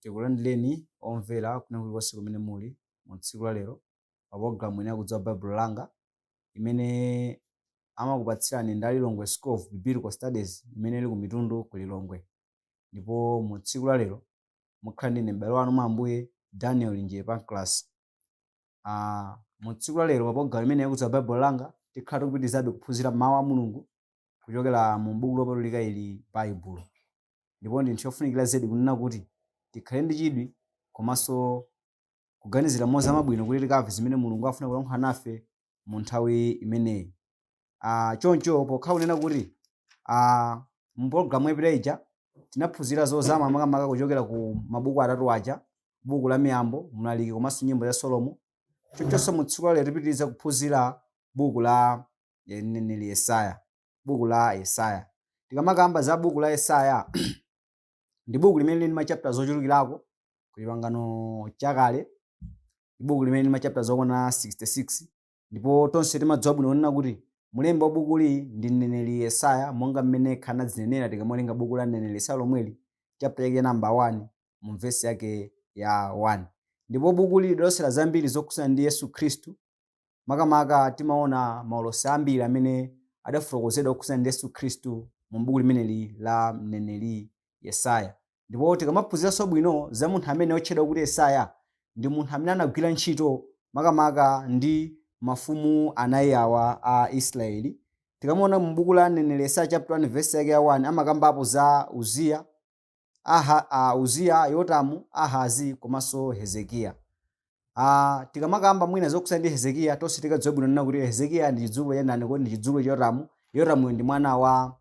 Tikulandireni omvera kwina kulikonse kumene muli mu tsiku la lero pa pologalamu ino yakudziwa Baibulo langa imene amakupatsirani ndi a Lilongwe School of Biblical Studies imene ili ku Mitundu ku Lilongwe. Ndipo mu tsiku la lero mukhala ndi ine m'bale wanu mwa Ambuye Daniel Linjere Pancras. Ah, mu tsiku la lero pa pologalamu imene yakudziwa Baibulo langa tikhala tikupitirizabe kuphunzira mawu a Mulungu kuchokera mu Buku Lopatulika ili, Baibulo. Ndipo ndi nthawi yofunikira zedi kunena kuti tikhale ndi chidwi komanso kuganizira mozama bwino kuti tikamve zimene Mulungu akufuna kulankhula nafe mu nthawi imeneyi. Ah, choncho pokhala kunena kuti ah, mu pologalamu yapita ija tinaphunzira zozama makamaka kuchokera ku mabuku atatu aja, buku la Miyambo, Mlaliki komanso Nyimbo za Solomo. Chonchonso mu tsiku la lero tipitiriza kuphunzira buku la ya mneneri Yesaya, buku la Yesaya. Tikamakamba za buku la Yesaya ndi buku limene lili ndi machapter zochulukirako ku chipangano chakale, ndi buku limene lili ndi machapter zokwana 66 ndipo tonse timadziwa bwino kunena kuti mulembi wa bukuli ndi mneneri Yesaya monga mmene yekha anadzinenera tikamawerenga buku la mneneri Yesaya lomweli chapter yake namba 1 mu vesi yake ya 1 ndipo bukuli lidalosera zambiri zokhudzana ndi Yesu Khristu Makamaka timaona maulosi ambiri amene adafotokozedwa okhudzana ndi Yesu Khristu mu buku limeneli la mneneri Yesaya. Ndipo tikamaphunziranso bwino za munthu amene otchedwa kuti Yesaya, ndi munthu amene anagwira ntchito makamaka ndi mafumu anayi awa a Israeli. Tikamaona mu buku la mneneri Yesaya chapter 1 verse yake ya 1 amakambapo za Uziya, Aha, a Uziya, Yotamu, Ahazi komanso Hezekiya. Ah, tikamakamba mwina zokhudza ndi Hezekiya tonse tikadziwa bwino nena kuti Hezekiya ndi chidzukulu cha ndani kodi ndi chidzukulu cha Yotamu. Yotamu ndi mwana wa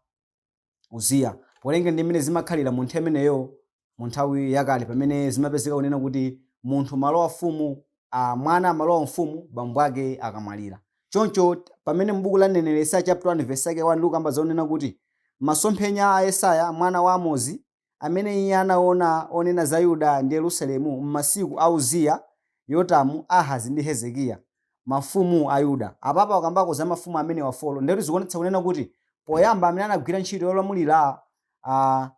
Uziya. Polingana ndi mmene zimakhalira mu nthawi imeneyo mu nthawi yakale pamene zimapezeka kunena kuti munthu amalowa ufumu ah, mwana amalowa ufumu bambo ake akamwalira. Choncho, pamene m'buku la mneneri Yesaya chapter 1 verse yake 1 likukamba zonena kuti masomphenya a Yesaya mwana wa Amozi amene iye anaona onena za Yuda ndi Yerusalemu m'masiku a Uziya, Yotamu, Ahazi ndi Hezekiya, mafumu a Yuda. Apapa akukambako za mafumu amenewa 4. Ndiye kuti zikuonetsa kunena kuti poyamba amene anagwira ntchito yolamulira a.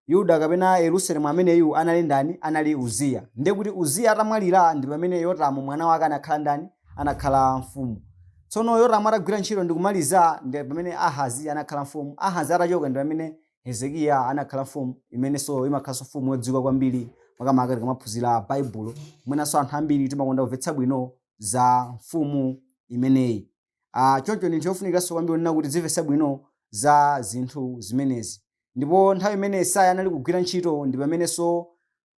Yuda kapena Yerusalemu ameneyu anali ndani? Anali Uziya. Ndiye kuti Uziya atamwalira ndi pamene Yotamu mwana wake anakhala ndani? Anakhala mfumu. Tsono Yotamu atagwira ntchito ndi kumaliza ndi pamene Ahazi anakhala mfumu. Ahazi atachoka ndi pamene Hezekiya anakhala mfumu imenenso imakhalanso mfumu yodziwika kwambiri makamaka tikamaphunzira Baibulo. Mwinanso anthu ambiri timakonda kumvetsa bwino za mfumu imeneyi. Ah, choncho ndi ntchito yofunikiranso kwambiri kunena kuti tidzimvetsa bwino za zinthu zimenezi. Ndipo nthawi imene Yesaya anali kugwira ntchito ndi pamenenso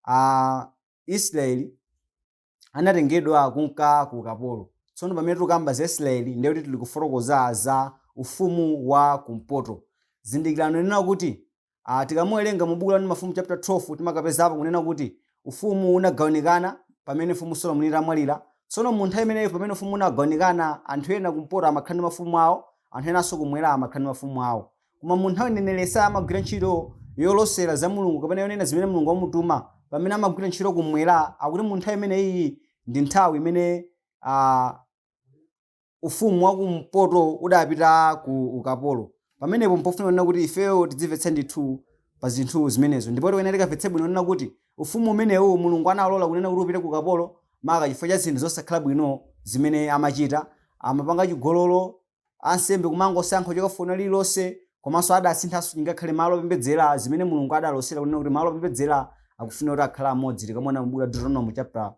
ah, Israeli anatengedwa kunka ku ukapolo. Tsono pamene tikukamba za Israeli ndiye kuti tili kufotokoza za ufumu wa kumpoto. Zindikirani kunena kuti Aaa tikamuwelenga mu buku la 1 Mafumu chapter 12 timakapezapo kunena kuti ufumu wu unagawanikana pamene mfumu Solomoni itamwalila, tsono mu nthawi imeneyo pamene ufumu wu unagawanikana anthu ena kumpoto amakhala ndi mafumu awo anthu enanso kumwela amakhala ndi mafumu awo. Koma mu nthawi mneneli Yesaya amagwira ntchito yolosela za Mulungu kapena yonena zimene Mulungu wamutuma pamene amagwila ntchito kumwela ndiye kuti mu nthawi imeneyiyi ndi nthawi imene aa, ufumu wa kumpoto udapita ku ukapolo pamenepo mpofuna kunena kuti ifeyo tidzimvetse ndithu pa zinthu zimenezo ndipo tikuyenera tikamvetse bwino kunena kuti ufumu umenewu mulungu analola kunena kuti upite ku ukapolo maka chifukwa cha zinthu zosakhala bwino zimene amachita amapanga chigololo ansembe kumangosankha fuko lina lililonse komanso adasinthanso chingakhale malo opembedzera zimene mulungu adalosera kunena kuti malo opembedzera akufuna kuti akhala amodzi tikamona m'buku la deuteronomo chapter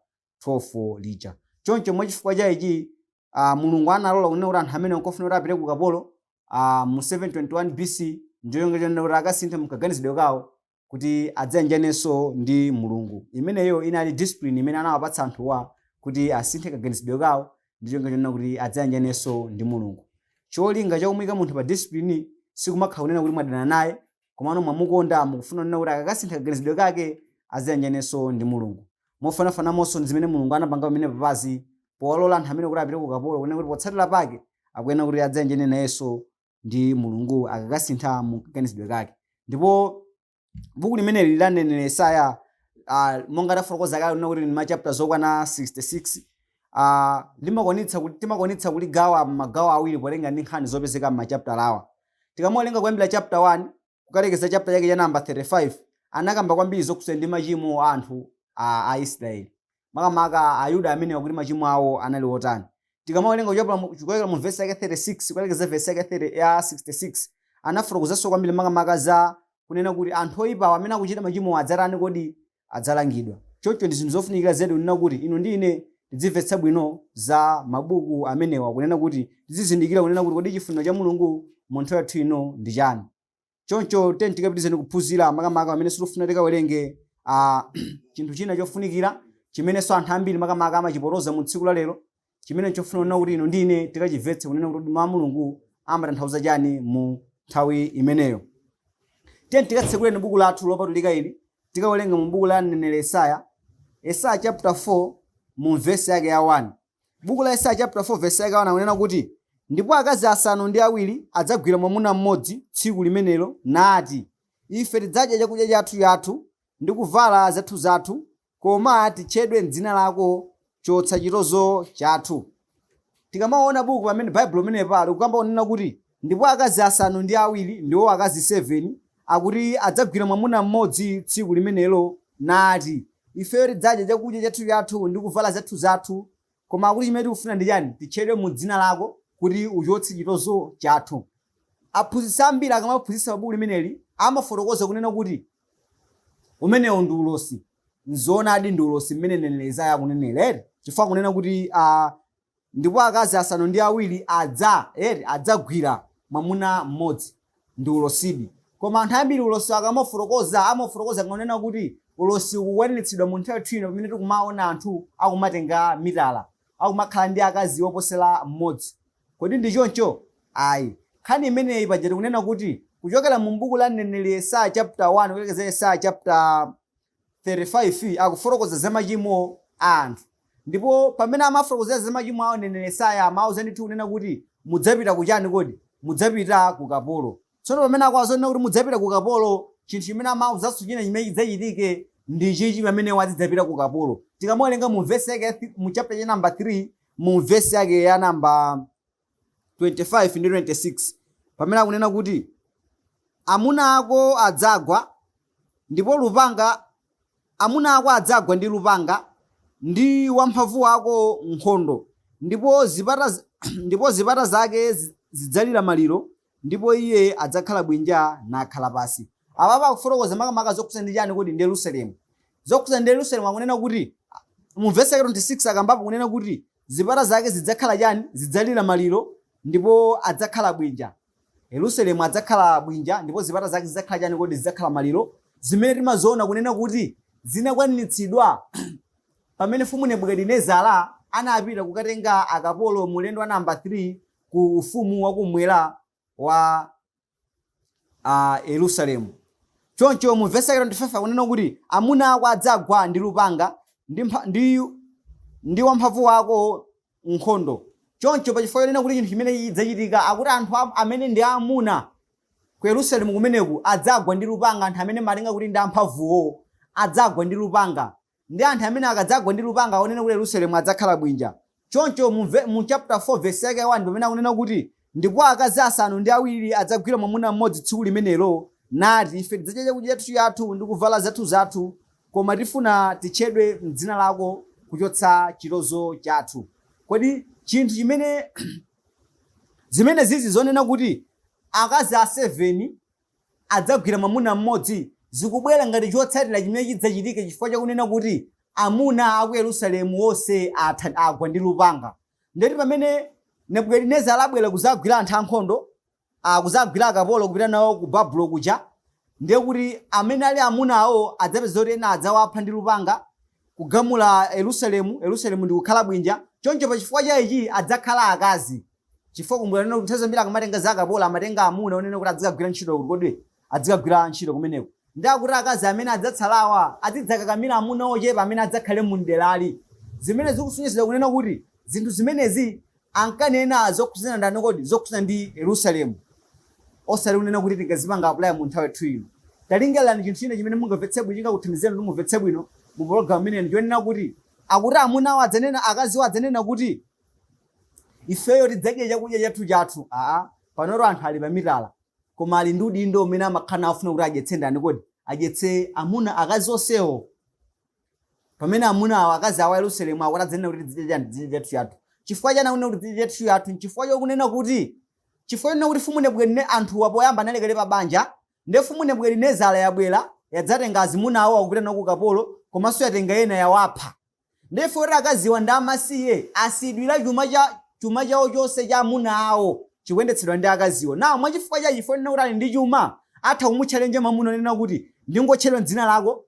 12 lija. Choncho mwa chifukwa cha ichi, ah, Mulungu analola kunena kuti anthu amenewa kunena kuti apite ku ukapolo, ah, mu 721 BC, n'cholinga chonena kuti akasinthe mkaganizidwe kawo kuti adzayanjanenso ndi Mulungu. Imeneyo inali discipline imene anawapatsa anthuwa kuti asinthe kaganizidwe kawo ndi cholinga chonena kuti adzayanjanenso ndi Mulungu. Cholinga cha kumuika munthu pa discipline sikumakhala kunena kuti mwadana naye, komano mwamukonda mukufuna kunena kuti akakasintha kaganizidwe kake aziyanjanenso ndi mulungu mofanafananso ndi zimene mulungu anapanga pamenepa apazi powalola anthu amenewa kuti apite ku ukapolo kunena kuti potsatira pake akuyenera kuti adziyanjane nayenso ndi mulungu akakasintha mu kaganizidwe kake ndipo buku limeneli la mneneri yesaya ah, monga tafotokoza kale kunena kuti ndi machapter zokwana 66 ah, limakwanitsa kuti- timakwanitsa kuligawa m'magawo awiri potenga ndi nkhani zopezeka m'machapter awa Tikamuwerenga kuyambira chapter 1 kukalekeza chapter chake cha namba 35 anakamba kwambiri zokhudza ndi machimo a anthu Aisraeli makamaka Ayuda amenewa kuti machimo awo anali otani. Tikamawerenga kuchokera mu- kuchokera mu vesi yake 36 kukalekeza vesi yake 30 ya 66 anafotokozanso kwambiri makamaka za kunena kuti anthu oyipawa amene akuchita machimowa adzatani kodi adzalangidwa. Choncho ndi zinthu zofunikira zedi kunena kuti inu ndi ine tidzimvetsa bwino za mabuku amenewa kunena kuti tidzizindikira kunena kuti kodi chifuniro cha Mulungu mu nthawi yathu ino ndi chani. Choncho tiyeni tikapitizeni kuphunzira makamaka pamene tikufuna tikawerenge a chinthu china chofunikira chimenenso anthu ambiri makamaka amachipotoza mu tsiku la lero chimene nchofunika kunena kuti inu ndi ine tikachimvetse kunena kuti mawu a mulungu amatanthauza chani mu nthawi imeneyo tiyeni tikatsekuleni buku lathu lopatulika ili tikawerenga mu buku la mneneri yesaya yesaya chapter 4 mu vesi yake ya 1 buku la yesaya chapter 4 vesi yake ya 1 akunena kuti ndipo akazi asanu ndi awiri adzagwira mwamuna mmodzi tsiku limenelo nati ife tidzadya chakudya chathu chathu ndi kuvala zathu zathu Koma titchedwe m'dzina lako chotsa chitonzo chathu. Tikamaona buku pamene Baibulo pamenepa likukamba kunena kuti ndipo akazi asanu ndi awiri ndiwo akazi 7 akuti adzagwira mwamuna mmodzi tsiku limenelo nati ifeyo tidzadya chakudya chathu chathu ndi kuvala zathu zathu Koma akuti chimene tikufuna ndi chani? Titchedwe mu dzina lako kuti uchotse chitonzo chathu. Aphunzitsi ambiri akamaphunzitsa pa buku limeneli amafotokoza kunena kuti umenewo ndi ulosi. Nzoonadi ndi ulosi mmene mneneri Yesaya akunenera eti. Chifukwa akunena kuti ah, ndipo akazi asanu ndi awiri adza eti, adzagwira mwamuna mmodzi. ndi ulosidi. Koma anthu ambiri ulosi akamaufotokoza, amaufotokoza kunena kuti ulosi ukukwaniritsidwa mu nthawi yathu ino pamene tikumaona anthu akumatenga mitala, akumakhala ndi akazi oposera mmodzi. Kodi ndi choncho? Ayi. Nkhani imeneyi paja tikunena kuti kuchokera mu m'buku la mneneri Yesaya chaputa 1 kukalekeza Yesaya chaputala 35 akufotokoza za machimo a anthu. Ndipo pamene amawafotokozera za machimo awo, mneneri Yesaya amawauza ndithu kunena kuti, Mudzapita ku chani kodi? Mudzapita ku ukapolo. Tsono pamene akuwauza kunena kuti mudzapita ku ukapolo, chinthu chimene amawauzanso china chimene chidzachitike ndi chichi pamene iwo azidzapita ku ukapolo. Tikamawerenga mu vesi yake ya mu chapter cha number 3 mu vesi yake ya number 25 ndi 26 pamene akunena kuti amuna ako adzagwa ndipo lupanga amuna ako adzagwa ndi lupanga ndi wamphamvu wako nkhondo ndipo zipata z- ndipo zipata zake zi- zidzalira maliro ndipo iye adzakhala bwinja nakhala pansi apapa akufotokoza makamaka zokhudza ndi chani kodi ndi yerusalemu zokhudza ndi yerusalemu akunena kuti mu vesi yake 26 akambapo kunena kuti zipata zake zidzakhala chani zidzalira maliro ndipo adzakhala bwinja yerusalemu adzakhala bwinja ndipo zipata zake zidzakhala chani kodi zidzakhala maliro zimene timaziona kunena kuti zinakwaniritsidwa pamene mfumu nebukadinezara anapita kukatenga akapolo mu ulendo wa namba 3 ku ufumu wakumwera wa Yerusalemu. Choncho mu vesi yake 25 akunena kuti amuna ako adzagwa ndi lupanga ndi, mpha, ndi, ndi wamphamvu wako nkhondo. Choncho pa chifukwa chonena kuti chinthu chimene chidzachitika akuti anthu amene ndi amuna ku Yerusalemu kumeneku adzagwa ndi lupanga, anthu amene amalinga kuti ndi amphamvuwo adzagwa ndi lupanga ndi anthu amene akadzagwa ndi lupanga akunena kuti Yerusalemu adzakhala bwinja. Choncho mu ve, mu chapter 4 verse yake ya 1 pamene akunena kuti ndipo akazi asanu ndi awiri adzagwira mwamuna mmodzi tsiku limenelo nati ife tidzadya chakudya chathu chathu ndi kuvala zathu zathu koma tifuna titchedwe m'dzina lako kuchotsa chitonzo chathu. Kodi chinthu chimene zimene zizi zonena kuti akazi a 7 adzagwira mwamuna mmodzi zikubwera ngati chotsatira chimene chidzachitike chifukwa cha kunena kuti amuna a ku Yerusalemu onse atha, agwa ndi lupanga. Ndiye kuti pamene Nebukadinezara abwera kuzagwira anthu ankhondo ah, kuzagwira akapolo kupita nawo ku Babulo kuja ndiye kuti amene ali amuna awo adzapeza kuti ena adzawapha ndi lupanga kugumula Yerusalemu, Yerusalemu ndi kukhala bwinja. Choncho pa chifukwa cha ichi adzakhala akazi. Chifukwa kumbukirani kunena kuti nthawi zambiri akamatenga za akapolo amatenga amuna onena kuti adzikagwira ntchito kuti kodi adzikagwira ntchito kumeneko. Ndiye akuti akazi amene adzatsalawa azidzakakamira amuna ochepa amene adzakhale mu m'derali. Zimene zikusonyeza kunena kuti zinthu zimenezi ankanena zokhudzana ndani kodi? Zokhudzana ndi Yerusalemu. Osati kunena kuti tingazipanga apply mu nthawi yathu ino. Talingalirani chinthu china chimene mungamvetse bwino chingakuthandizeni kuti mumvetse bwino mu pologalamu imeneyi ndi chonena kuti akuti amunawo adzanena akaziwo adzanena kuti ifeyo tidzadya chakudya chathu chathu aa panotu anthu ali pamitala koma ali ndi udindo umene amakhala afuna kuti adyetse ndani kodi adyetse amuna akazi onsewo pamene amuna awo akazi awa a yerusalemu akuti adzanena kuti tidzidya chani tidzidya chathu chathu chifukwa chani akunena kuti tidzidya chathu chathu nchifukwa chokunena kuti chifukwa chonena kuti mfumu anthuwa poyamba anali kale pa banja nde mfumu nebukadinezara yabwera yadzatenga azimuna awo akupita nawo ku ukapolo komanso yatenga ena yawapha Therefore akaziwa ndi amasiye asiyidwira chuma cha chuma chawo chonse cha amuna awo chikuyendetsedwa ndi akaziwo. Now mwachifukwa cha chifukwa chonena kuti ali ndi chuma atha kumutchalenje mamuna kunena kuti ndingotchedwa m'dzina lako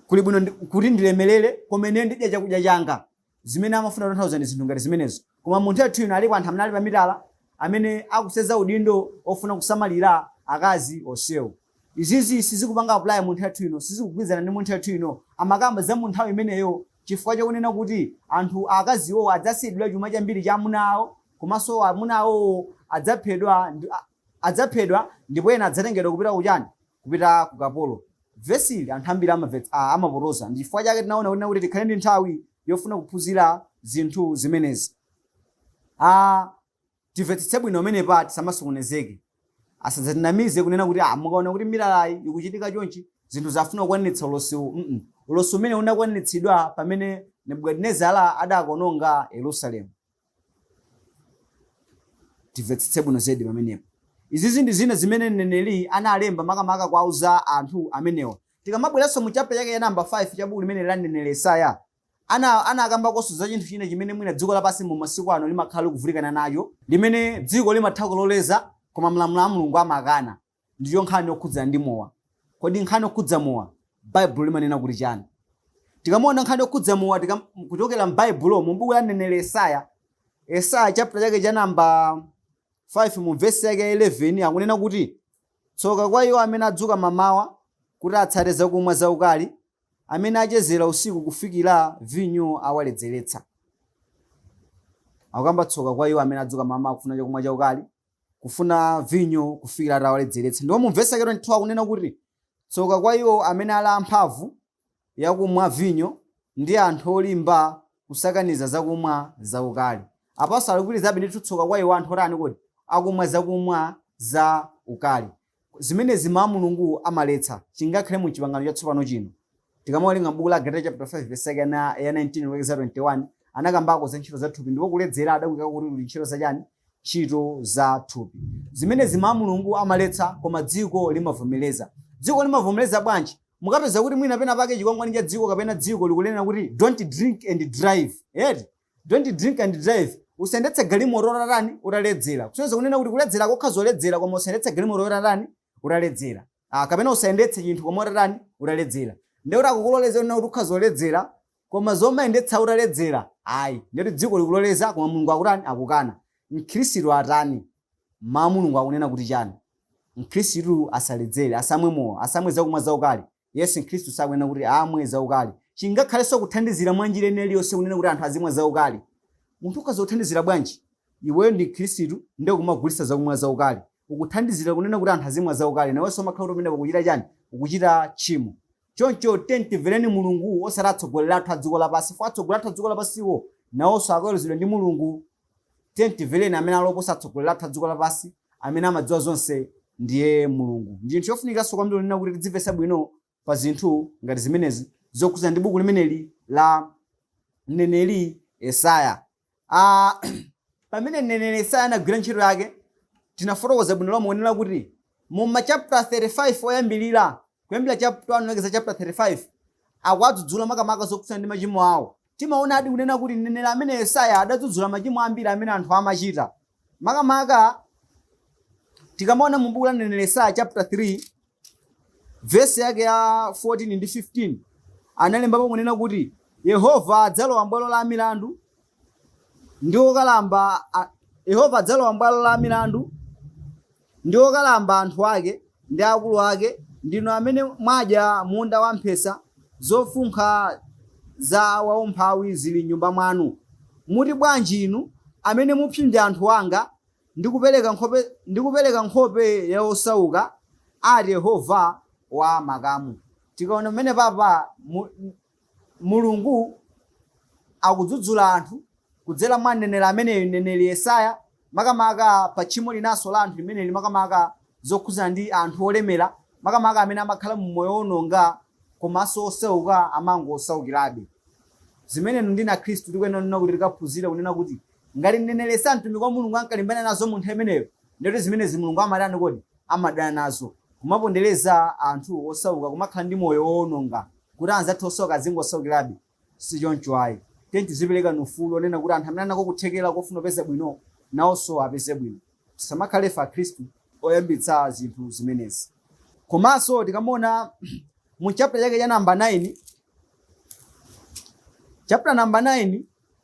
kuli bwino kuti ndilemelele koma ine ndidya chakudya changa. Zimene amafuna kutanthauza ndi zinthu ngati zimenezo. Koma mu nthawi yathu ino aliko anthu amene ali pa mitala amene akusenza udindo ofuna kusamalira akazi onsewo. Izizi sizikupanga apply mu nthawi yathu ino sizikugwilizana ndi mu nthawi yathu ino amakamba za munthawi imeneyo chifukwa chakunena kuti anthu akazi iwowo adzasiyidwila chuma chambiri cha amuna awo komanso amuna awowo adzaphedwa ndi adzaphedwa ndipo ena adzatengedwa kupita kuchani kupita ku ukapolo. Vesi ili anthu ambiri amavets, a, amapotoza. Ndi chifukwa chake tinaona kuti kuti tikhale ndi nthawi yofuna kuphunzira zinthu zimenezi. A, timvetsetse bwino pamenepa tisamasokonezeke. Asadzatinamize kunena kuti ah, mukaona kuti mitalayi ikuchitika chonchi zinthu zafuna kukwaniritsa ulosiwu. Mm -mm. Ulosi umenewu unakwaniritsidwa pamene Nebukadinezara adakononga Yerusalemu. Timvetsetse bwino zedi pamenepo. Izizi ndi zina zimene mneneri analemba makamaka kuwauza anthu amenewa. Tikamabweranso mu chapter chake cha number 5 cha buku limeneli la mneneri Yesaya, anakambakonso za chinthu china chimene mwina dziko lapansi mu masiku ano limakhala likuvutikana nacho, limene dziko limatha kuloleza koma malamulo a Mulungu amakana. ndiyo nkhani yokhudzana ndi mowa. Kodi nkhani yokhudza mowa Baibulo limanena kuti chani? Tikamaona nkhani yokhudza mowa tikam, kuchokera m'Baibulo mu buku la mneneri Yesaya, Yesaya chapter chake cha namba 5 mu vesi yake ya 11 akunena kuti tsoka kwa iwo amene adzuka mamawa kuti atsate zakumwa zaukali, amene achezera usiku kufikira vinyo awaledzeretsa. Akukamba tsoka kwa iwo amene adzuka mamawa kufuna chakumwa chaukali, kufuna vinyo kufikira atawaledzeretsa. Ndipo mu vesi yake 22 akunena kuti, Tsoka kwa iwo amene ali amphamvu yakumwa vinyo, ndi anthu olimba kusakaniza zakumwa zaukali. Apanso alikupitirizabe ndithu, tsoka kwa iwo anthu otani kodi? Akumwa zakumwa za ukali. Zimenezi Mawu a Mulungu amaletsa. Chingakhale mu Chipangano Chatsopano chino. Tikamawerenga mu buku la Agalatiya chaputala 5 vesi yake ya 19 kulekeza 21, anakambako za ntchito za thupi ndipo kuledzera adakuikako kuti kuli ntchito za chani? Ntchito za thupi. Zimenezi Mawu a Mulungu amaletsa koma dziko limavomereza. Dziko limavomereza bwanji? Mukapeza kuti mwina pena pake chikwangwani cha dziko kapena dziko likunena kuti don't drink and drive. Eti? Don't drink and drive. Usayendetse galimoto utatani? Utaledzera. Kusonyeza kunena kuti kuledzerako ukhoza kuledzera koma usayendetse galimoto utatani? Utaledzera. Ah, kapena usayendetse chinthu koma utatani? Utaledzera. Ndiye kuti akukuloleza kunena kuti ukhoza kuledzera koma zomayendetsa utaledzera. Ayi, ndiye kuti dziko likuloleza koma Mulungu akutani? Akukana. Mkhristu atani? Mawu a Mulungu akunena kuti chani? Mkhristu asaledzere, asamwe mowa, asamwe zakumwa zaukali. Yes, Mkhristu sakuyenera kuti amwe zaukali. Chingakhalenso kuthandizira mwa njira ina iliyonse kunena kuti anthu azimwa zaukali. Munthu ukhoza kuthandizira bwanji? Iweyo ndi Mkhristu ndiye ukumagulitsa zakumwa zaukali. Ukuthandizira kunena kuti anthu azimwa zaukali. Nawenso umakhala kuti pamenepo ukuchita chani? Ukuchita tchimo. Choncho tiyeni timvereni Mulungu osati atsogoleri athu a dziko lapansi chifukwa atsogoleri athu a dziko lapansiwo nawonso akaweruzidwa ndi Mulungu. Tiyeni timvereni amene ali oposa atsogoleri athu a dziko lapansi amene amadziwa zonse ndiye Mulungu. Ndi chinthu chofunikiranso kwambiri kunena kuti tidzimvetsa bwino pa zinthu ngati zimenezi zokhudzana ndi buku limeneli la mneneri Yesaya. Ah, pamene mneneri Yesaya anagwira ntchito yake tinafotokoza bwino lomwe kunena kuti mu machaputala 35 oyambirira kuyambira chaputala 1 kulekeza chaputala 35 akuwadzudzula makamaka zokhudzana ndi machimo awo Timaonadi kunena kuti mneneri amene Yesaya adadzudzula machimo ambiri amene anthu amachita. Makamaka tikamaona mu buku la mneneri Yesaya chapter 3 vesi yake ya 14 ndi 15 analembapo kunena kuti Yehova adzalowa m'bwalo la milandu ndi okalamba a- Yehova adzalowa m'bwalo la milandu ndi okalamba anthu ake, ndi akulu ake, ndinu amene mwadya munda wamphesa, zofunkha za waumphawi zili m'nyumba mwanu. Muti bwanji inu, amene mupsinja anthu anga, ndi kupereka nkhope, ndi kupereka nkhope ya osauka? ati Yehova wa makamu. Tikaona pamenepapa mu, Mulungu akudzudzula anthu kudzera mwa mneneri ameneyu, mneneri Yesaya, makamaka pa tchimo linanso la anthu limeneli, makamaka zokhudzana ndi anthu olemera, makamaka amene amakhala mu moyo woononga komanso osauka amangosaukirabe. Zimene inu ndi ine akhristu tikuyenera kunena kuti tikaphunzire kunena kuti Ngati mneneri Yesaya mtumiki wa Mulungu ankalimbana nazo mu nthawi imeneyo, ndiye kuti zimenezi Mulungu amatani kodi? Amadana nazo. Kumapondereza anthu osauka, kumakhala ndi moyo woononga, kuti anzathu osauka azingosaukirabe, si choncho ayi. Tiyeni tiziperekani ufulu wonena kuti anthu amene ali nako kuthekera kofuna kupeza bwino nawonso apeze bwino. Tisamakhale ife Akhristu oyambitsa zinthu zimenezi. Komanso tikamaona mu chapter chake cha number 9, chapter number 9,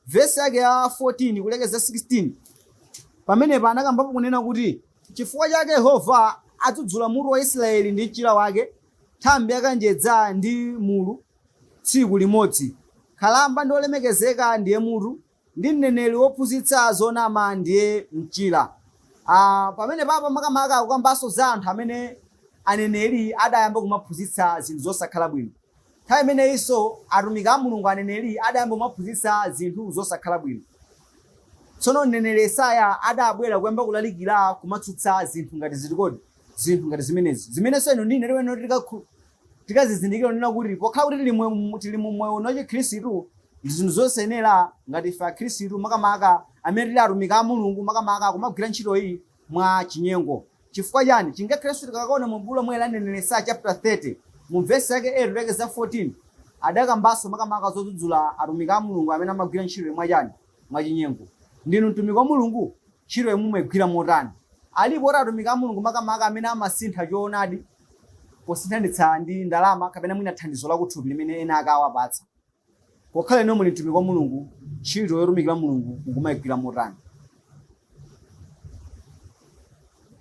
Vesi yake ya 14 kulekeza 16 pamenepa anakambapo kunena kuti chifukwa chake yehova adzudzula mutu wa israeli ndi mchira wake nthambi yakanjedza ndi mlulu tsiku limodzi nkhalamba ndi wolemekezeka ndiye mutu ndi mneneri wophunzitsa zonama ndiye mchira Ah, pamenepapa makamaka akukambanso za anthu amene aneneri adayamba kumaphunzitsa zinthu zosakhala bwino Nthawi imeneyinso atumiki a Mulungu, aneneri, adayamba kumaphunzitsa zinthu zosakhala bwino. Tsono mneneri Yesaya adabwera kuyamba kulalikira kumatsutsa zinthu ngati ziti kodi? Zinthu ngati zimenezi. Zimenenso inu ndi ine lero lino tikakhu- tikazizindikira kunena kuti pokhala kuti tili mwe- mu- tili mu moyo uno wachikhristu ndi zinthu zosayenera ngati ife akhristu makamaka amene tili atumiki a Mulungu makamaka kumagwira ntchito iyi mwa chinyengo. Chifukwa chani? Ngakhalenso tikakaona mu buku lomweli la mneneri Yesaya chapter 30 mu vesi yake 8 kulekeza 14 adakambanso makamaka zodzudzula atumiki a Mulungu amene amagwira ntchitoyi mwa chani? Mwa chinyengo. Ndinu mtumiki wa Mulungu? Ntchitoyi mumaigwira motani? Alipo atumiki a Mulungu makamaka amene amasintha choonadi posinthanitsa ndi ndalama kapena mwina thandizo lakuthupi limene ena ake awapatsa. Pokhala inuyo muli mtumiki wa Mulungu, ntchito yotumikira Mulungu mukumaigwira motani?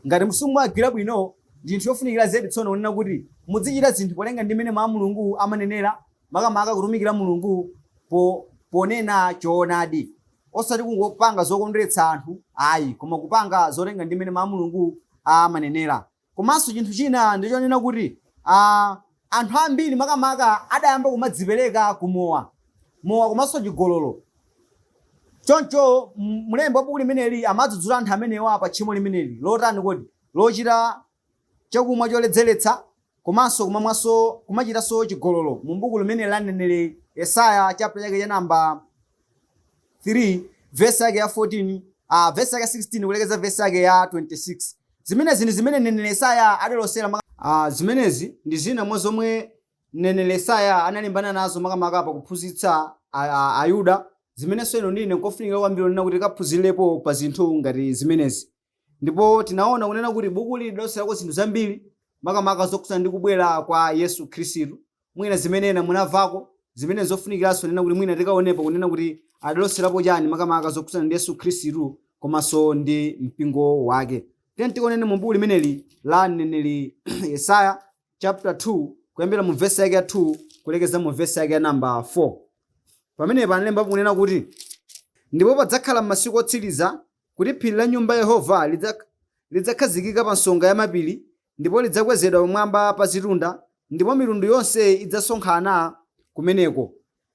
Ngati simumagwira bwino, ndi chinthu chofunikira zedi tsono kunena kuti muzichita zinthu polinga ndi mmene Mawu a Mulungu amanenera, makamaka kutumikira Mulungu po ponena choonadi, osati kungopanga zokondweretsa anthu ayi, koma kupanga zolinga ndi mmene Mawu a Mulungu amanenera. Komanso chinthu china ndi chonena kuti ah, anthu ambiri makamaka adayamba kumadzipereka ku mowa mowa komanso chigololo choncho m- mlembi wa buku limeneli amadzudzula anthu amenewa pa tchimo limeneli lotani kodi lochita chakumwa choledzeretsa komanso kumamwanso kumachitanso chigololo mu buku limeneli la mneneri yesaya chapter chake cha namba 3 vesi yake ya 14 ah, vesi yake ya 16 kulekeza vesi yake ya 26 zimenezi ndi zimene mneneri yesaya adalosera maka- ah, zimenezi ndi zina mwa zomwe mneneri yesaya analimbana nazo makamaka pa kuphunzitsa a- a- ayuda zimenenso inu ndi ine nkofunikira kwambiri kunena kuti tikaphunzirepo pa zinthu ngati zimenezi Ndipo tinaona kunena kuti bukuli lidaloserako zinthu zambiri makamaka zokhudzana ndi kubwera kwa Yesu Khristu, mwina zimene ena munamvapo, zimene n'zofunikiranso kunena kuti mwina tikaonepo kunena kuti adaloserapo chani makamaka zokhudzana ndi Yesu Khristu komanso ndi mpingo wake. Tiyeni tikaoneni mu buku limeneli la mneneri Yesaya chapter 2 kuyambira mu vesi yake ya 2 kulekeza mu vesi yake ya namba 4. Pamenepa analembapo kunena kuti, Ndipo padzakhala m'masiku otsiriza, kuti phiri la nyumba ya Yehova lidzakhazikika pa nsonga ya mapiri, ndipo lidzakwezedwa pamwamba pa zitunda, ndipo mitundu yonse idzasonkhana kumeneko.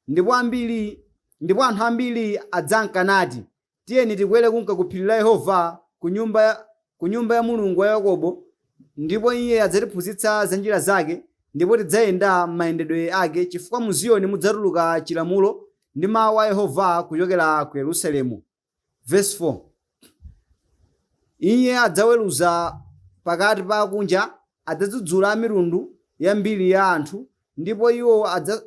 Ndipo ambiri, ndipo anthu ambiri adzanka nati, Tiyeni tikwere kunka ku phiri la Yehova, ku nyumba, ku nyumba ya Mulungu wa Yakobo, ndipo iye adzatiphunzitsa za njira zake, ndipo tidzayenda m'mayendedwe ake, chifukwa mu Ziyoni mudzatuluka chilamulo, ndi mawu a Yehova kuchokera ku Yerusalemu. Vesi 4 Iye adzaweruza pakati pa akunja, adzadzudzula amitundu yambiri ya anthu, ndipo iwo adza,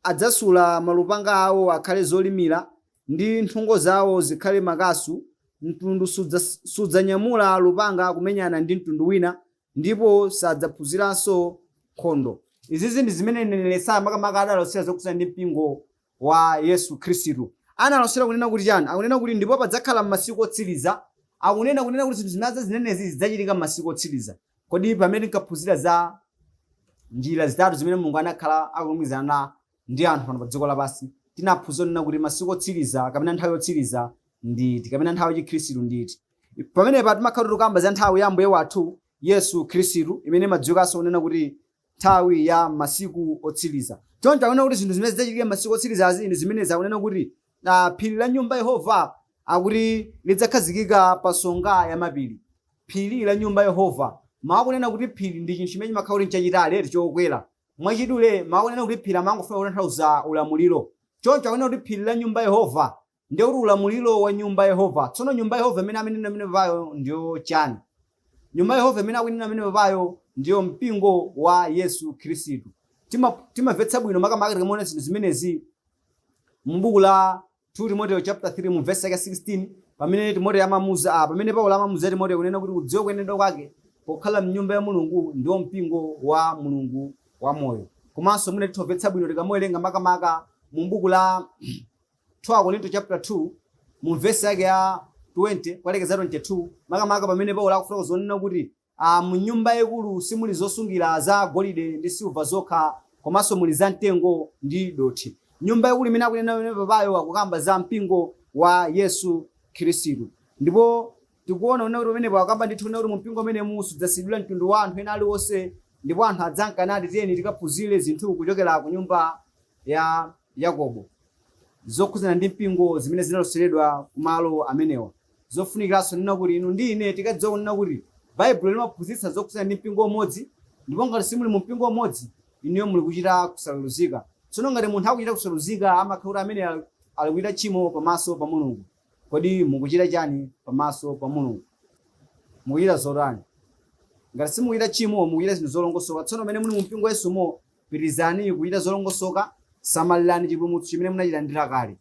adzasula malupanga awo akhale zolimira, ndi nthungo zawo zikhale makasu, mtundu sudza, sudzanyamula lupanga kumenyana ndi mtundu wina, ndipo sadzaphunziranso nkhondo. Izizi ndi zimene mneneri Yesaya makamaka adalosera zokhudzana ndi mpingo wa Yesu Khristu. Analosera kunena kuti chani? Akunena kuti ndipo padzakhala m'masiku otsiriza. Akunena kunena kuti zinthu zimene azinenezi zidzachitika m'masiku otsiriza. Kodi pamene tinkaphunzira za njira zitatu zimene Mulungu anakhala akulumikizana ndi anthu pano pa dziko lapansi, tinaphunzira kunena kuti masiku otsiriza kapena nthawi yotsiriza ndi iti kapena nthawi ya chikhristu ndi iti. pamenepa timakhala tikukamba za nthawi ya ambuye wathu yesu khristu imene imadziwikanso kunena kuti nthawi ya masiku otsiriza choncho akunena kuti zinthu zimene zidzachitika masiku otsirizazi ndi zimene zakunena kuti ah, phiri la nyumba ya yehova akuti lidzakhazikika pa nsonga ya mapiri phiri la nyumba ya yehova mawu akunena kuti phiri ndi chinthu chimene chimakhala kuti nchachitali eti chokwera mwachidule mawu akunena kuti phiri amangofuna kutanthauza ulamuliro choncho akunena kuti phiri la nyumba ya yehova Ndiye kuti ulamuliro wa nyumba ya Yehova. Tsono nyumba ya Yehova imene akunena pamene papayo ndiyo chani? Nyumba ya Yehova imene akunena pamene papayo ndiyo mpingo wa Yesu Khristu. Tima timamvetsa bwino makamaka tikaona zinthu zimenezi mu buku la 2 Timoteo chapter 3 mu verse yake 16 pamene Timoteo amamuuza ah, pamene Paulo amamuuza Timoteo kunena kuti kudziwa kuyenedwa kwake pokhala mnyumba ya Mulungu ndiwo mpingo wa Mulungu wa moyo. Komanso mwina titha kumvetsa bwino tikamawerenga makamaka mu buku la 2 Akorinto chapter 2 mu vesi yake ya 20 kukalekeza 22 makamaka pamene paulo akufotokoza kunena kuti ah, mu nyumba yaikulu simuli zosungira za golide ndi silva zokha komanso muli za mtengo ndi dothi nyumba yaikulu imene akunena pamene papayo akukamba za mpingo wa yesu khristu ndipo tikuona kunena kuti pamenepo akamba ndithu kunena kuti mumpingo umene simudzasiyidwa mtundu wa anthu ena aliwonse ndipo anthu adzanka nati tiyeni tikaphunzire zinthu kuchokera ku nyumba ya Yakobo zokhudzana ndi mpingo zimene zinaloseredwa ku malo amenewa zofunikiranso kunena kuti inu ndi ine tikadziwa kunena kuti baibulo limaphunzitsa zokhudzana ndi mpingo umodzi ndipo ngati simuli mu mpingo umodzi inuyo muli kuchita kusayeruzika tsono ngati munthu akuchita kusayeruzika amakhala kuti amene ali- ali kuchita tchimo pamaso pa mulungu kodi mukuchita chani pamaso pa mulungu mukuchita zotani ngati simukuchita tchimo mukuchita zinthu zolongosoka tsono pamene muli mu mpingo wa yesumo Pitirizani kuchita zolongosoka, samalirani chipulumutso chimene munachilandira kale.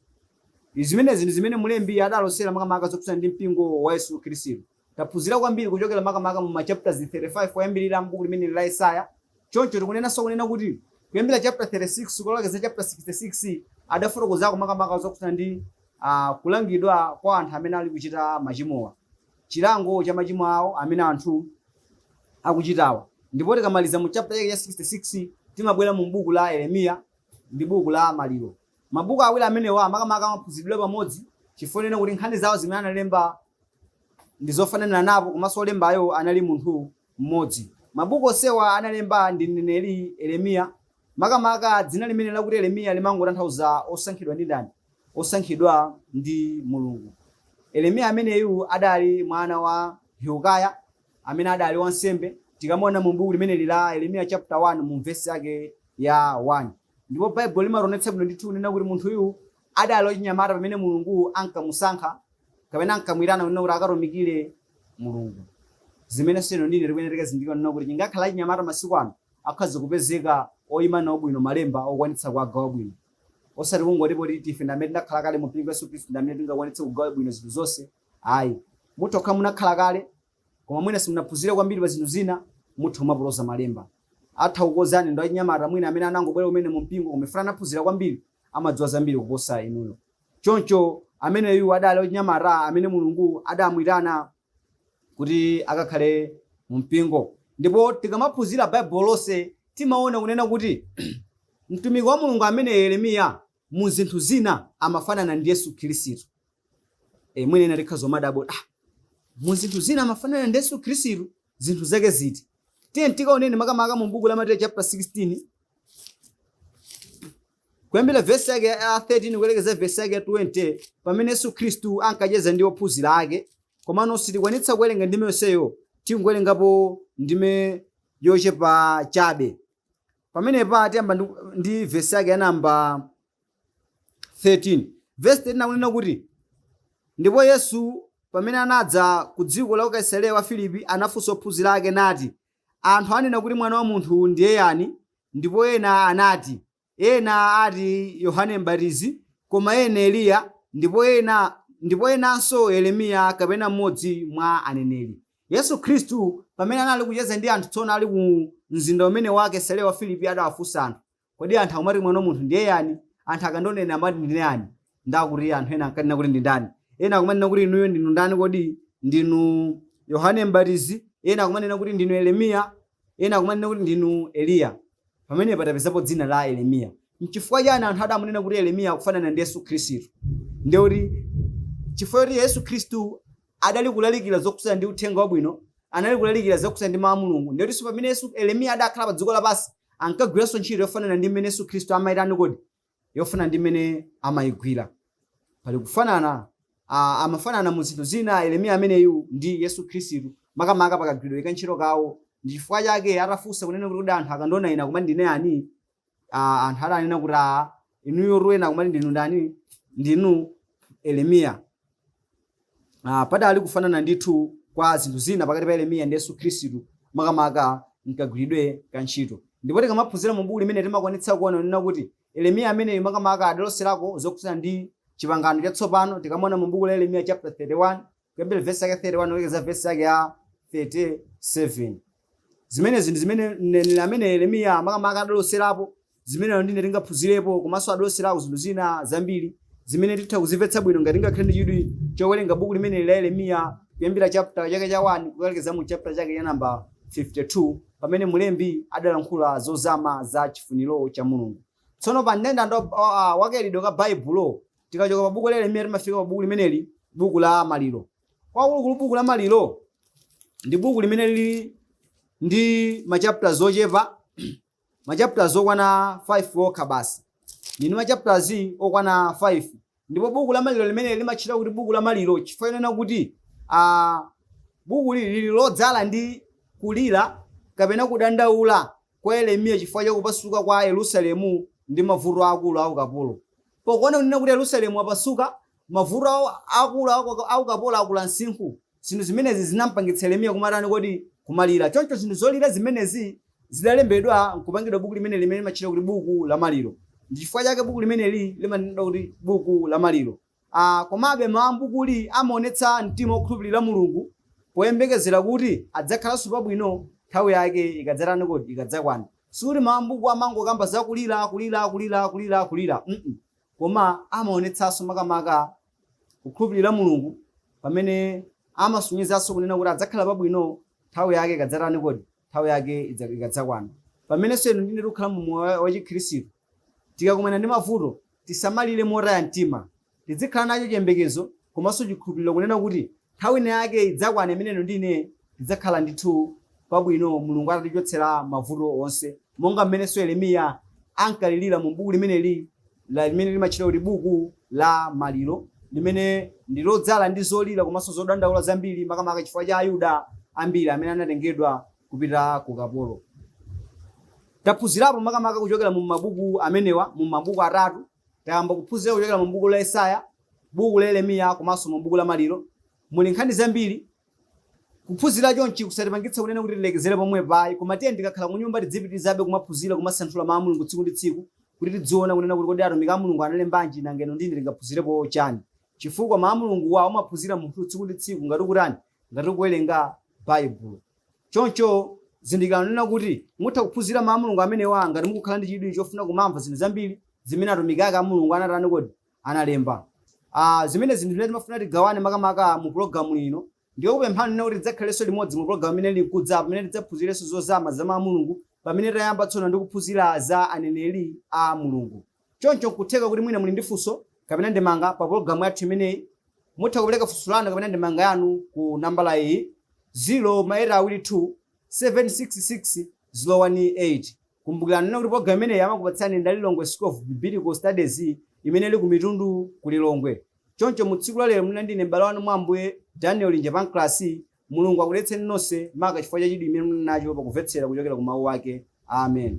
Zimenezi ndi zimene mlembi adalosera makamaka zokhudzana ndi mpingo wa Yesu Khristu. Taphunzira kwambiri kuchokera makamaka mu machaputala 35 oyambirira a m'buku limeneli la Yesaya. Choncho tikunenanso kunena kuti kuyambira chaputa 36 kukalekeza chaputa 66 adafotokozako makamaka zokhudzana ndi ah, kulangidwa kwa anthu amene ali kuchita machimowa. chilango cha machimo awo amene anthu akuchitawa. Ndipo tikamaliza mu chapter chake cha 66 timabwera mu buku la Yeremiya ndi buku la Maliro. Mabuku awiri amenewa makamaka amaphunziridwa pamodzi chifukwa chonena kuti nkhani zawo zimene analemba ndi zofananirapo komanso olembayo anali munthu mmodzi. Mabuku onsewa analemba ndi mneneri Yeremiya Makamaka, dzina limeneli lakuti Yeremiya limangotanthauza Osankhidwa ndi Ndani? Osankhidwa ndi Mulungu. Yeremiya ameneyu adali mwana wa Hilkiya, amene adali wansembe, tikamaona mu buku limeneli la Yeremiya chapter 1 mu vesi yake ya 1. Ndipo Baibulo limationetsa bwino ndithu kunena kuti munthuyu adali wachinyamata pamene Mulungu ankamusankha kapena ankamuitana kunena kuti akatumikire Mulungu. Zimenenso inu ndi ine tikuyenera tikazizindikire kunena kuti chingakhale achinyamata masiku ano akhoza kupezeka oyima nawo bwino malemba okwanitsa kuwagawa bwino osati kungoti poti ife ndamene tinakhala kale mu mpingo yesu khristu ndamene tingakwanitse kugawa bwino zinthu zonse ayi mutha kukhala munakhala kale koma mwina simunaphunzire kwambiri pa zinthu zina mutha kumapotoza malemba atha kukozani ndi achinyamata mwina amene anangobwera kumene mu mpingo koma mwina anaphunzira kwambiri amadziwa zambiri kuposa inuyo choncho ameneyu adali wachinyamata amene mulungu adamwitana kuti akakhale mu mpingo ndipo tikamaphunzira baibulo lonse timaona kunena kuti mtumiki wa mulungu ameneyu yeremiya mu zinthu zina amafanana ndi yesu khristu e, mwina ena tikhoza kumadabwa ah, mu zinthu zina amafanana ndi yesu khristu zinthu zake ziti tiyeni tikaoneni makamaka mu buku la mateyu chapter 16 Kuyambira vesi yake ya 13 kulekeza vesi yake ya 20 pamene Yesu Khristu ankacheza ndi ophunzira ake, komano sitikwanitsa kuwerenga ndime yonseyo, tingowerengapo ndime yochepa chabe. Pamenepa tiyamba ndi, ndi vesi yake ya namba 13. Vesi 13 akunena kuti, ndipo Yesu pamene anadza ku dziko la ku Kaisareya wa Filipi anafunsa ophunzira ake nati, Anthu anena kuti mwana wa munthu ndiye yani, ndipo ena anati, Ena ati Yohane M'batizi, koma ena Eliya, ndipo ena ndipo enanso Yeremiya kapena mmodzi mwa aneneri. Yesu Khristu, pamene anali kucheza ndi anthu tsono ali ku mzinda umene wa Kesareya wa Filipi adawafunsa anthu, Kodi anthu akumati mwana wa munthu ndiye yani? Anthu akandiona amati ndine yani? Ndiye akuti anthu ena ankanena kuti ndi ndani? Ena akumanena kuti inuyo ndinu ndani kodi? Ndinu Yohane M'batizi. Ena akumanena kuti ndinu Yeremiya. Ena akumanena kuti ndinu Eliya. Pamenepa tapezapo dzina la Yeremiya. N'chifukwa chani anthu adamunena kuti Yeremiya akufanana ndi Yesu Khristu? Ndiye kuti chifukwa choti Yesu Khristu adali kulalikira zokhudzana ndi uthenga wabwino, anali kulalikira zokhudzana ndi mawu a Mulungu. Ndiye kutinso pamene Yesu, Yeremiya adakhala pa dziko lapansi, ankagwiranso ntchito yofanana ndi mmene Yesu Khristu amayitani kodi? Yofanana ndi mmene amayigwira. Pali kufanana, ah, amafanana mu zinthu zina Yeremiya ameneyu ndi Yesu Khristu, makamaka pakagwiridwe ka ntchito kawo. Ndi chifukwa chake atafunsa kunena kuti kodi anthu akandiona ine akumati ndine yani? ah, anthu adanena kuti aa inuyo ena akumati ndinu ndani ndinu yeremiya ah, padali kufanana ndithu kwa zinthu zina pakati pa yeremiya ndi yesu khristu makamaka mkagwiridwe ka ntchito ndipo tikamaphunzira mu buku limene timakwanitsa kuona kunena kuti yeremiya ameneyu makamaka adaloserako zokhudzana ndi chipangano chatsopano tikamaona mu buku la yeremiya chapter 31 kuyambira vesi yake 31 kulekeza vesi yake ya 37 zimenezi ndi zimene mneneri amene yeremiya makamaka adaloserapo zimene inu ndi ine tingaphunzirepo komanso adaloserapo zinthu zina zambiri zimene titha kuzimvetsa bwino ngati tingakhale ndi chidwi chowerenga buku limeneli la yeremiya kuyambira chapter chake cha 1 kukalekeza mu chapter chake cha namba 52 pamene mlembi adalankhula zozama za chifuniro cha mulungu tsono pa kandandalikidwe ka baibulo Tikachoka pa buku la Yeremiya timafika pa buku limeneli, buku la Maliro. Kwenikweni buku la Maliro ndi buku limene lili ndi machapters ochepa, machapters okwana 5 okha basi. Lili ndi machapters okwana 5. Ndipo buku la Maliro limeneli limatchedwa kuti buku la Maliro chifukwa chonena kuti ah, bukuli lili lodzala ndi kulira kapena kudandaula kwa Yeremiya chifukwa cha kupasuka kwa Yerusalemu ndi mavuto aakulu a ukapolo. Pokuona kunena kuti Yerusalemu wapasuka, mavuto aakulu a ukapolo akula msinkhu. Zinthu zimenezi zinampangitsa Yeremiya kumatani kodi? Kumalira. Choncho zinthu zolira zimenezi zidalembedwa nkupangidwa buku limeneli limene limatchedwa kuti buku la maliro. Ndi chifukwa chake buku limeneli limanenedwa kuti buku la maliro. a Komabe, mawu a m'bukuli amaonetsa mtima wokhulupirira Mulungu poyembekezera kuti adzakhalanso pabwino nthawi yake ikadzatani kodi? Ikadzakwana. Sikuti mawu a m'buku amangokamba za kulira, kulira, kulira, kulira, kulira, mm koma amaonetsanso makamaka kukhulupirira Mulungu pamene amasonyezanso kunena kuti adzakhala pabwino nthawi yake ikadzatani kodi? Nthawi yake ikadzakwana. Pamenenso inu ndi ine tikukhala mu moyo wa- wachikhristu, Tikakumana ndi mavuto, tisamalire motaya mtima. Tidzikhala nacho chiyembekezo komanso chikhulupiriro kunena kuti, Nthawi inayake idzakwana imene inu ndi ine tidzakhala ndithu pabwino Mulungu atatichotsera mavuto onse, monga mmenenso Yeremiya ankalirira mu buku limeneli limene limatchedwa kuti buku la maliro, limene ndi lodzala ndi zolira komanso zodandaula zambiri, makamaka chifukwa cha Ayuda ambiri amene anatengedwa kupita ku ukapolo. Taphunzirapo makamaka kuchokera mu mabuku amenewa, mu mabuku atatu. Tayamba kuphunzira kuchokera mu buku la Yesaya, buku la Yeremiya komanso mu buku la Maliro. Muli nkhani zambiri. Kuphunzira chonchi kusatipangitse kunena kuti tilekezere pomwepa ayi, koma tiyeni tikakhala ku nyumba tidzipitiriza kumaphunzira, kumasanthula Mawu a Mulungu tsiku ndi tsiku kuti tidziona kunena kuti kodi atumiki a Mulungu analembanji, nanga inu ndi ine tingaphunzirepo chani? Chifukwa Mawu a Mulunguwa umaphunzira munthu tsiku ndi tsiku ngati ukutani? ngati kuwerenga Baibulo. Choncho zindikirani kunena kuti mutha kuphunzira mawu a Mulungu amenewa ngati mukukhala ndi chidwi chofuna kumamva zinthu zambiri zimene atumiki ake a Mulungu anatani kodi analemba. Ah, zimenezi n'zimene timafuna tigawane makamaka mu pulogalamu ino. Ndikukupemphani kunena kuti tidzakhalenso limodzi mu pulogalamu imene ili nkudza pamene tidzaphunzirenso zozama za mawu a Mulungu pamene tayamba tsono ndi kuphunzira za aneneri a Mulungu. Choncho n'kutheka kuti mwina muli ndi funso kapena ndemanga pa pulogalamu yathu imeneyi. Mutha kupereka funso lanu kapena ndemanga yanu ku nambala iyi, 0 ma 8 awiri 2 7 6 6 0 1 8. Kumbukirani kunena kuti pulogalamu imeneyi amakupatsirani ndi a Lilongwe School of Biblical Studies imene ili ku Mitundu ku Lilongwe. Choncho mu tsiku la lero munali ndi ine m'bale wanu mwa Ambuye, Daniel Linje Pancras. Mulungu akudalitseni nonse maka chifukwa cha chidwi chimene munali nacho pakuvetsera kuchokera ku mau ake. Amen.